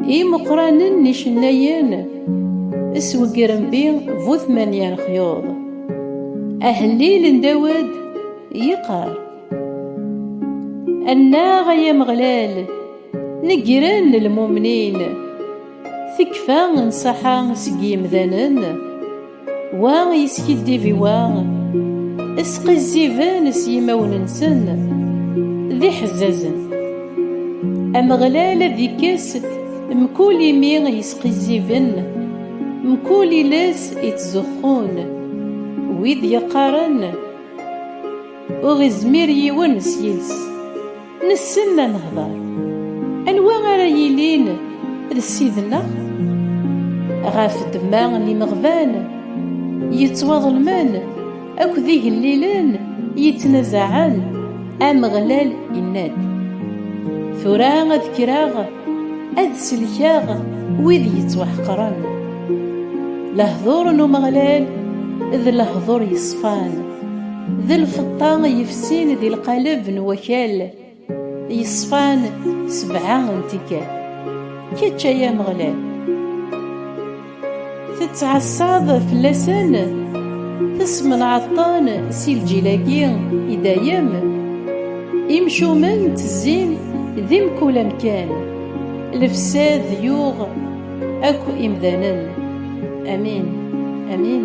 imeqqranen n icennayen isweggren bi bu tmanya lexyuḍ ahellil n dawed yeqqar annaɣ ay ameɣlal Negren lmumnin, tekfa nṣaḥa seg yimdanen, wa yeskiddib i wa, sqizziben s yimawen-nsen d iḥezzazen. Ameɣlal ad ikkes mkul imi yesqizziben, mkul iles ittzuxxun, wid yeqqaren, Ur izmir yiwen s yiles. Nessen ad nehder. Anwa ara yilin d ssid-nneɣ? Ɣef ddemma n yimeɣban yettwaḍelmen akked igellilen yettnazaɛen, Ameɣlal inna-d, Tura ad kkreɣ ad sellkeɣ wid yettwaḥeqren. Lehduṛ n Umeɣlal d lehduṛ yeṣfan. D lfeṭṭa yefsin di lqaleb n wakal yeṣfan sebɛa n tikkal. Kečč ay Ameɣlal tettɛassaḍ fell-asen, tesmenɛeḍ-ten si lǧil-agi i dayem. Imcumen ttezzin di mkul amkan, lefsad yuɣ akk imdanen. Amin, amin.